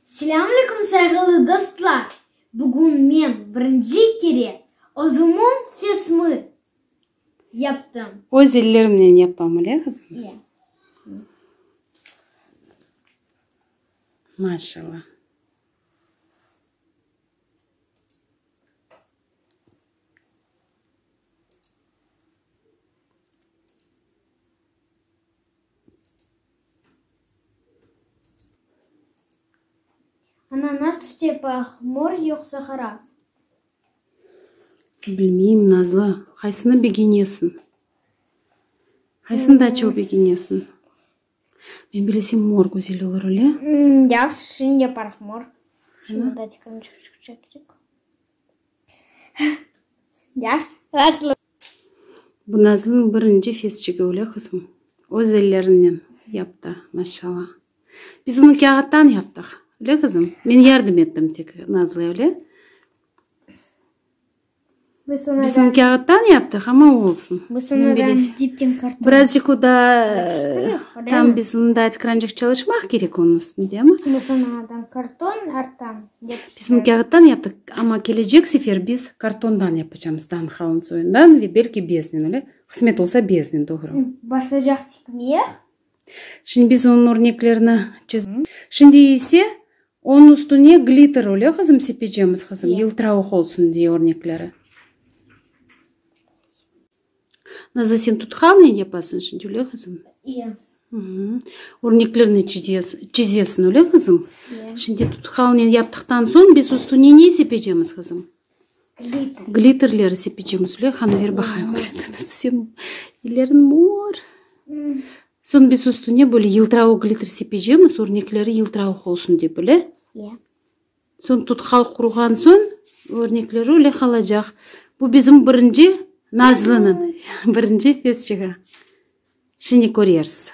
Selâm aleyküm sayğılı dostlar! Bugün men birinci kere özümün fesmi yaptım. Öz ellerimnen yapam öyle qızım? İye. Maşallah. Ana, nas tüste, paq, mor, yoqsa qara? Bilmeyim, Nazlı. Qaysını begenesiñ? Qaysını daa çoq begenesiñ? Men bilesem mor güzel olur öyle. Ya sizin yaparıq mor. Şimdi datikamı çıqacaq edik. Ya nasıl? Bu Nazlı'nıñ birinci fesçigi öyle qız mı? Öz ellerinen yaptı maşalla. Biz onı kâğıttan yaptıq öyle qızım? Men yardım ettim tek Nazlı'ya öyle. Biz onı kâğıttan yaptıq, amma olsun. Birazcık o da, tam biz onı da açık rancıq çalışmaq kerek onıñ üstünde, amma. Biz onı kâğıttan yaptıq, amma kelecek sefer biz kartondan yapacağımız, dan qalın soyundan ve belki beznen, öyle qısmet olsa beznen, doğru. Şimdi biz onıñ örneklerini çizemiz. Şimdi ise onıñ üstüne glitter, öyle qızım, sepecemiz, qızım, yıltıravıq olsun diye örnekleri. Nazlı, sen tutqalnen yapasıñ şimdi, öyle qızım? İyi. Örneklerini çizesiñ, öyle qızım? Şimdi tutqalnen yaptıqtan soñ biz üstüne ne sepecemiz, qızım? Glitterleri sepecem Züleyhanı ver baqayım ellerin mor soñ biz üstüne böyle yıltıravıq glitter sepecemiz örnekleri yıltıravıq olsun dep ele soñ tutkal quruğan soñ örnekleri öyle qalacaq bu bizim birinci nazlınıñ birinci fes çığa şimdi körersiz.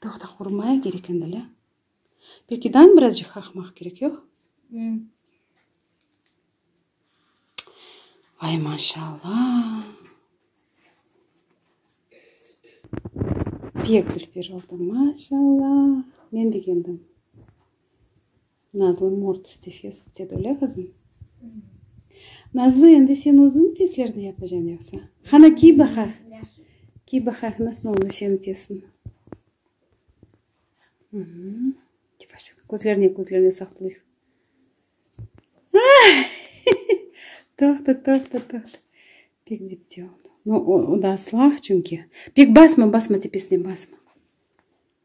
Toqta qurmaya kerek endi, lâ? Belki dam birazcıq qaqmaq kerek, yoq? Vay, maşalla! Pek dülper oldı, maşalla! Men begendim. Nazlı, mort üstü fes, dedi öyle qızım? Nazlı, endi sen özün feslerni yapacan yoqsa? Qana, kiy baqaq. Kiy baqaq, nasıl oldı senin fesniñ? Yavaşça, közlerine, közlerine saqlayıq. Toqta, toqta, toqta. Pek dipte oldı. O da aslaq çünki. Pek basma, basma, tepesine basma.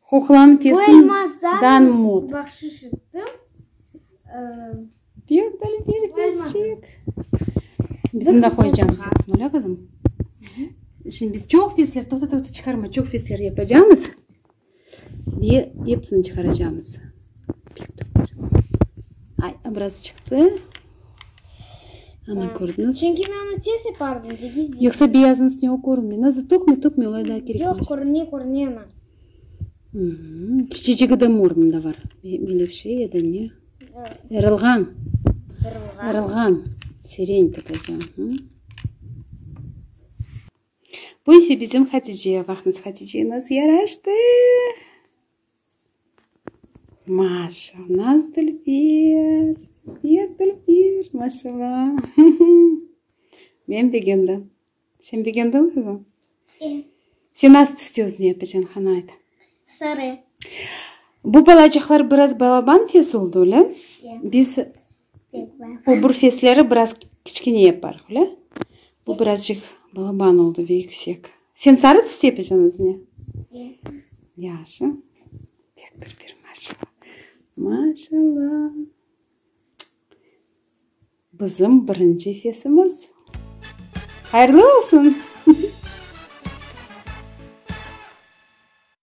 Huqlan kesin dan mut. Bu elmazdan bahşış ettim. Pek deli bir fesçik. Bizim de qoyacağımız yapsın, öyle qızım? Şimdi biz çoq fesler, toqta toqta çıqarma, çoq fesler yapacağımız. Ve hepsini çıqaracağımız. Ay, biraz çıqtı. Ana, kördiñiz? Çünki men onı tez yapardım, de gizli. Yoqsa beyaznıñ üstüne o körünmey. Nazlı, tökme, tökme, olay daa kerek olmaycaq. Yoq, körüne, körüne ana. Kiçicigi de mor mında bar. Melevşe ya da ne? Erılğan. Erılğan. Erılğan. Sireny tapaca. Bu ise bizim Hatice. Vaqnız, Hatice naz yaraştı. Maşa, naz Dülfer! Yer Dülfer! Maşala! Men begendim. Sen begendiñ qızım? E. Sen nasıl tüste özüni yapacañ, qana ayt. Sarı. Bu balacıqlar biraz balaban tez oldı, ölem? E. Biz Bu burfesleri biraz kiçkine yaparıq, öyle? Bu birazcık balaban oldu ve yüksek. Sen sarı tıs yapacaksın özüne? Yaşı. Pek bir bir maşallah. Maşallah. Bizim birinci fesimiz. Hayırlı olsun.